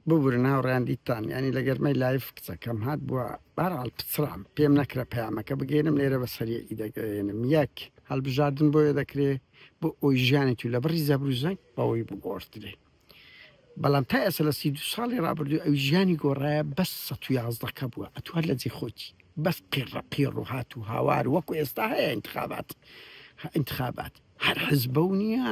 ببورن هاوڕیان دیتان ینی لە گەرمەی لایف کچەکەم هات بووە بارال پچڕام پێم نەکرە پەیامەکە بگەێنم لێرە بە سەریە ئیدەگەێنم یەک هەڵبژاردن بۆیە دەکرێ بۆ ئەوی ژیانی تو لە بڕی زەبروزەنگ بەوەی بگۆڕدرێ بەڵام تا ئێستا لە سی دو ساڵی ڕابردوو ئەو ژیانی گۆڕایە بەس سە و یازدەکە بووە ئەتوار لە جێ خۆتی بەس قیڕە قیڕ و هات و هاوار وەکو ئێستا هەیە انتخابات انتخابات هەر حزب بەو نییە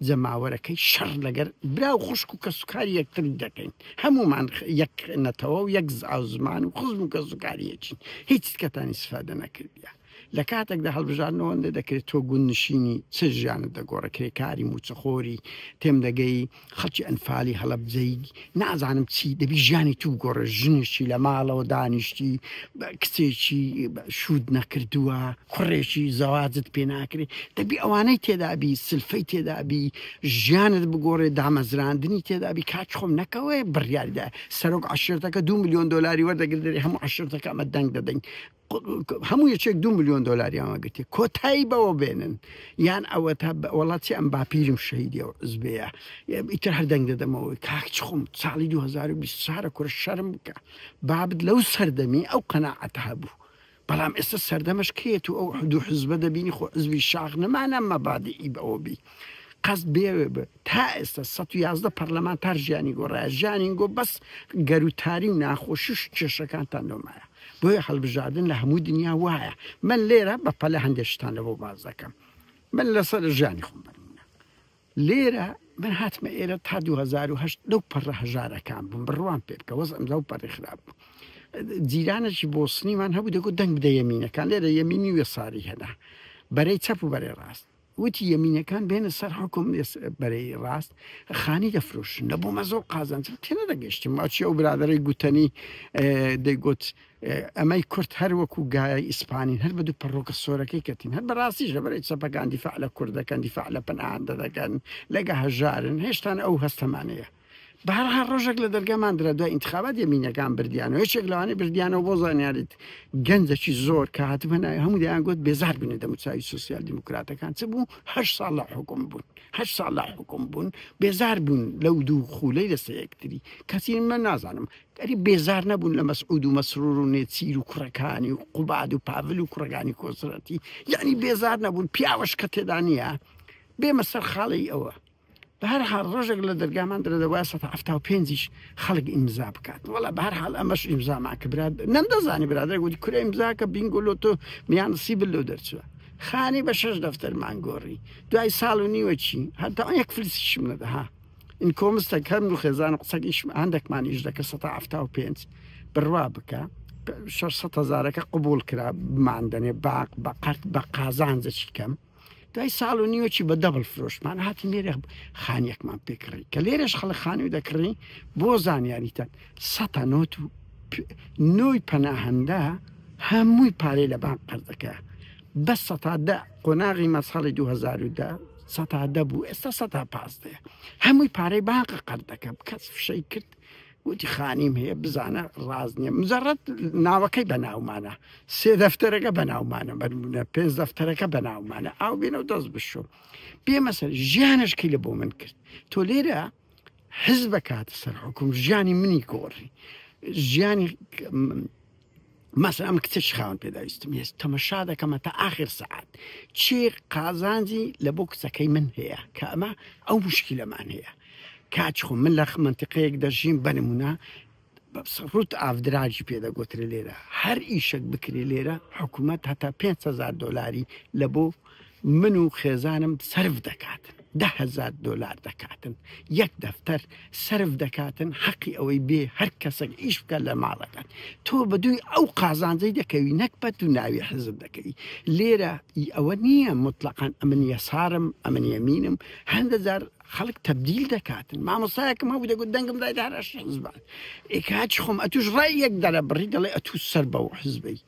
جەماوەرەکەی شەڕ لەگەر برا و خوشک و کەسوکاری یەکتری دەکەین هەمومان یەک نەتەوە و یەک زمان و خزم و کەسوکاریەکین هیچ کەتانی سفادە نەکردە لە کاتێکدا هەڵبژاردنەوەندە دەکرێت تۆ گوندنشینی چ ژیانت دەگۆڕە کرێکاری موچەخۆری تێم دەگەی خەڵکی ئەنفالی هەڵەبجەی نازانم چی دەبی ژیانی تو گۆڕە ژنێکی لە ماڵەوە دانیشتی کچێکی شود نەکردووە کوڕێکی زەواجت پێ ناکرێت دەبی ئەوانەی تێدابی سلفەی تێدابی ژیانت بگۆڕێ دامەزراندنی تێدابی کاچ خۆم نەکەوێ بڕیاریدا سەرۆک عشرتەکە دو میلیۆن دلاری وەردەگردێ هەموو عشرتەکە ئەمە دەنگ دەدەین هەموو یەکێک دو ملیۆن دۆلاریان وەگرتی کۆتایی بەوە بێنن یان ئەوە تا وڵاتی ئەم باپیرم شەیدی و زبەیە ئیتر هەر دەنگ دەدەمەوەی کاکچ خۆم ساڵی 2020 سارە کورە شەرم بکە بابت لەو سەردەمی ئەو قەنەعەت هەبوو بەڵام ئێستا سەردەمەش کێت و ئەو حدو حزبە دەبینی خۆ عزبی شاخ نەمانە مەبادی ئی بەوەبی قەست بێوێ بێت تا ئێستا سەد و یازدە پەرلەمانتار ژیانی گۆڕایە، ژیانین گۆ بەس گەروتاری و ناخۆشیش و کێشەکانتان نۆمایە، بۆیە هەڵبژاردن لە هەموو دنیا وایە، من لێرە بە پەلە هەندێک شتان لەوە باس دەکەم، من لەسەر ژیانی خۆم بەرمونە لێرە، من هاتمە ئێرە تا دوو هەزار و هەشت لەو پەڕە هەژارەکان بووم بڕوام پێ بکە وەزعم لەو پەڕی خراپ بوو. جیرانێکی بۆسنیمان هەبوو دەگوت دەنگ بدە یەمینەکان لێرە یەمینی وێساری هێنا بەرەی چەپ و بەرەی ڕاست وتی یەمینەکان بێنە سەر حوکم بەرەی ڕاست خانی دەفرۆشن لە بۆ مەزۆ قازانج تێنەدەگەشتم ماچی ئەو برادرەی گوتەنی دەیگوت ئەمەی کورت هەر وەکو گایە ئیسپانین هەر بە دوو پەڕۆکە سۆرەکەی کەتین هەر بەڕاستیش لە بەرەی چەپەکان دیفاع لە کوردەکەن دیفاع لە پەناهاندە دەکەن لەگە هەژارن هێشتان ئەو هەستەمانەیە بەهەرحاڵ ڕۆژێک لە دەرگا ماندرا دوای ئینتخابات یەمینەکان بردیانەوە یەکێک لەوانەی بردیانەوە بۆ زانیاریت گەنجەکی زۆر کە هاتبە ناوی هەموو دەیان گوت بێزار بوونە دەموچاوی سوسیال دیموکراتەکان چ بوو هەر ساڵ لە حکوم بوون هەر ساڵ لە حکوم بوون بێزار بوون لەو دوو خولەی لەسەر یەکتری کەسی من نازانم ئەری بێزار نەبوون لە مەسعود و مەسرور و نێچیر و کوڕەکانی و قوباد و پاڤل و کوڕگانی کۆسرەتی یعنی بێزار نەبوون پیاوەش کە تێدا نییە بێمە سەر خاڵی ئەوە بەهەرحاڵ ڕۆژێک لە دەرگامان درە دەبا سە هەفتا و پێنجیش خەڵک ئیمزا بکات وڵا بە هەر حال ئەمەش ئیمزامان کە براد نەمدەزانی برادر گوتی کورە ئیمزاکە بینگۆلۆ تۆ میان سی بلو دەرچوە خانی بە شەش دەفتەرمان گۆڕی دوای ساڵ و نیوە چی هەتا یەک فلسیشم نەدەها این کۆمستە کەم و خێزان قسەکیش هەندێکمان ئیش دەکە سە هەفتا و پێنج بڕوا بکە. 600 هزارەکە قوبول کرا مادەێ باق بە قەرت بە قازانجەچی کەم دوای ساڵ و نیوەکی بە دەبڵ فرۆشمان هاتی لێرە خانیەکمان پێکڕی کە لێرەش خەڵک خانی و دەکڕی بۆ زانیاریتەن سەتا نۆت و نۆی پەناهەندە هەمووی پارەی لە بانک قەردەکە بە سەتادە قۆناغی مەساڵی 2010 سەتادە بوو ئێستا سەتا پازدە هەمووی پارەی بانقە قەردەکە کەس فشەی کرد وتی خانیم هەیە بزانە ڕاست نییە مجرد ناوەکەی بە ناومانە سێ دەفتەرەکە بە ناومانە بەرمونە پێنج دەفتەرەکە بە ناومانە ئاو بێنە و دەست بشۆ پێمەسەر ژیانشکی لە بۆ من کرد تۆ لێرە حز بە کاتە سەر حکوم ژیانی منی گۆڕی ژیانی مەسە ئەم کچە شخاوەن پێداویستم هێز تەمەشا دەکەمە تا ئاخر سەعات چی قازانجی لە بۆ کچەکەی من هەیە کە ئەمە ئەو مشکلەمان هەیە کاچ خۆ من لە منتیقەیەک دەژین بەنمونە ڕوت ئافدراجی پێدەگوترێ لێرە هەر ئیشک بکرێ لێرە حکوومەت هەتا 500 دلاری لە بۆ من و خێزانم سەرف دەکاتن دە هەزار دۆلار دەکاتن یەک دەفتەر سەرف دەکاتن حەقی ئەوەی بێ هەر کەسێک ئیش بکە لە ماڵەکەت تۆ بە دووی ئەو قازانجەی دەکەوی نەک بە تو ناوی حزب دەکەی لێرە ئی ئەوە نییە مطلقاً ئەمن یەسارم ئەمن یەمینم هەندە جار خەڵک تبدیل دەکاتن مامۆسایەکم هەبوو دەگوت دەنگم دای دارەش حزبان ئێکاچ خۆم ئەتوش ڕای یەک دەرە بڕی دەڵێ ئەتوو سەر بەو حزبەی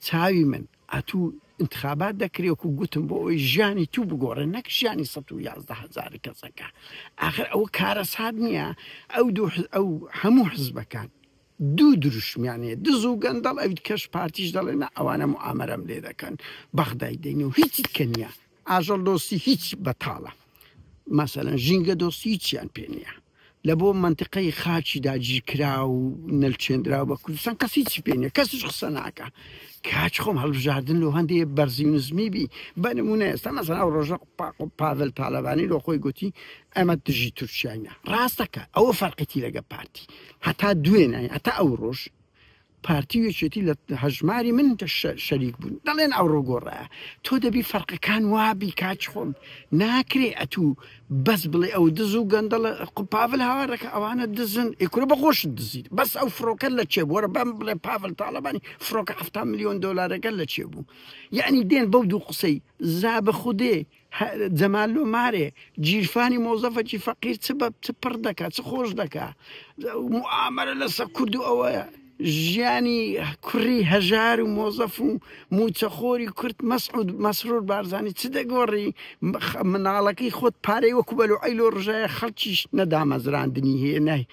چاوی من ئەتو ئینتخابات دەکرێ وەکو گوتم بۆ ئەوەی ژیانی تو بگۆڕێ نەک ژیانی سەد و یازدە هەزاری کەسەکە ئاخر ئەوە کارەسات نییە ئەو دوو حز- ئەو هەموو حزبەکان دوو دروشمیان هەیە دز و گەندەڵ ئەویت کەش پارتیش دەڵێ نا ئەوانە موئامەرەم لێ دەکەن بەغدای دێنێ و هیچی کە نییە ئاژەڵ دۆستی هیچ بەتاڵە مەسەلەن ژینگە دۆستی هیچیان پێ نییە لە بۆ منتقەی خاچی داگیرکرا و نەلچێنرا بە کوردستان کەسی چی پێێنە کەسیش قسە ناکە کاچ خۆم هەڵبژاردن لە هەندێ بەرزی نزمی بی بە نمونە ئێستا مەزان ئەو ڕۆژە پاڤل تاالبانی لۆ خۆی گوتی ئەمە دژی تورکیاە ڕاستەکە ئەوە فەرقەتی لەگە پارتی هەتا دوێنە هەتا ئەو ڕۆژ پارتی و یەکێتی لە هەژماری من شەریک بوون دەڵێن ئەوڕۆ گۆڕە تۆ دەبی فەرقەکان وابی کاچ خۆم ناکرێ ئەتوو بەس بڵێ ئەو دز و گەندەڵە قوپاڤل هاوارەکە ئەوانە دزن ئیکورە بەخۆشت دزیت بەس ئەو فڕۆکە لە چێ بووە بەم بڵێ پاڤل تاالبانی فڕۆکە ه میلیۆن دلارەکە لە چێ بوو یعنی دێن بەو دوو قسەی زابە خودێ جەمال لۆ مارێ جیرفانی مۆزەفەکی فەقیر چ بە چ پڕ دەکا چ خۆش دەکا ئامەرە لەسە کورد و ئەوە ژیانی کوڕی هەژار و مۆزەف و موچەخۆری کورت مەسعود مەسرور بارزانانی چ دەگۆڕی مناڵەکەی خۆت پارەی وەکو بەلو ئەی لۆ ڕژایە خەڵکیش نەدامەزراندنی هەیە نای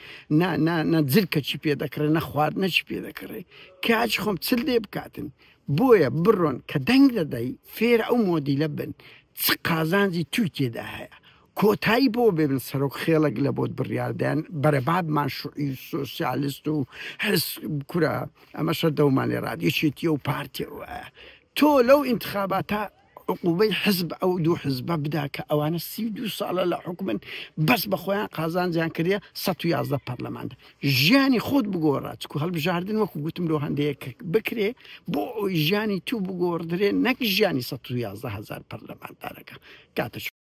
نە جلکەچی پێ دەکڕێ نە خواردنەچی پێ دەکڕێ کاچ خۆم چل دێ بکاتن بۆیە بڕۆن کە دەنگ دەدەی فێرە ئەو مۆدیلە بن چ قازانجی توی تێدا هەیە کۆتایی بۆ بێبن سەرۆک خێڵەک لە بۆت بڕیاردەن بەرەبابمان شوعی سوسیالست و حس کورە ئەمە شەر دەومانێ ڕادیشێتی و پارتی تۆ لەو ئینتخاباتە عقوبەی حزب ئەو دوو حزبە بدا کە ئەوانە سی و دوو ساڵە لە حکومن بەس بە خۆیان قازانجیان کردە 111 پەرلەماندا ژیانی خۆت بگۆڕە چکو هەڵبژاردن وەکو گوتم لۆ هەندەیە کە بکرێ بۆ ئەوی ژیانی تو بگۆڕدرێ نەک ژیانی 111 هزار پەرلەماندارەکە کاتە